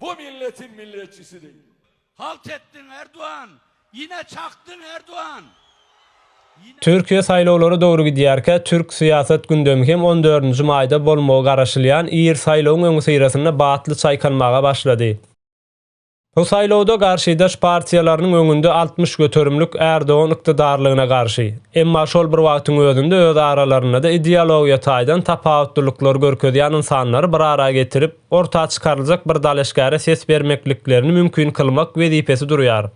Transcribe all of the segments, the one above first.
Bu milletin milletçisi değil. Halt etdiň Erdogan, ýene çakdyň Erdogan. Türkiýe saýlawlara dogry gidýärkä, türk syýasat gündemi hem on dördünji maýda bolmagy garaşylýan ir saýlawyň öňüsyrasynda batly çaýkanmaga başlady. Bu saýlawda garşydaş partiýalarynyň öňünde altmyş göterimlik Erdogan ykdydarlygyna garşy, emma şol bir wagtyň özünde öz aralarynda-da ideologiýa taýdan tapawutlylyklar görkezýän ynsanlary bir ara getirip, orta çykaryljak bir dalaşgäre ses bermekliklerini mümkin kylmak wezipesi durýar.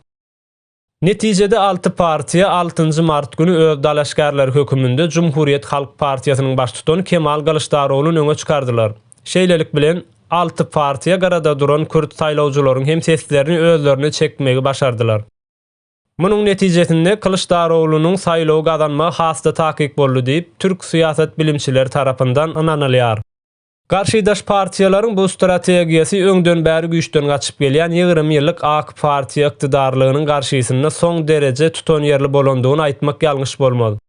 Netijede alty partiýa altynjy mart güni öz dalaşgärleri höküminde Jumhuriyet Halk partiýasynyň baştutany Kemal Gylyçdaroglun öňe çykardylar. Şeýlelik bilen, alty partiýa gyrada duran kürt saýlawjylaryň hem seslerini özlerine çekmegi başardylar. Munuň netijesinde Kylyçdaroglunyň saýlawy gazanmagy has-da takyk boldy diýip, türk syýasat bilimçileri tarapyndan ynanylýar. Garşydaş partiýalaryň bu strategiýasy öňden bäri güýçden gaçyp gelýän ýigrimi ýyllyk ak partiýa ykdydarlygynyň garşysynda soň dereje tutanýerli bolandygyny aýtmak ýalňyş bolmaz.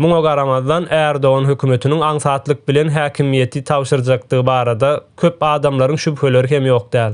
Muňa garamazdan, Erdogan hökümetiniň aňsatlyk bilen häkimiýeti tabşyrjakdygy barada köp adamlaryň şübheleri hem ýok däl.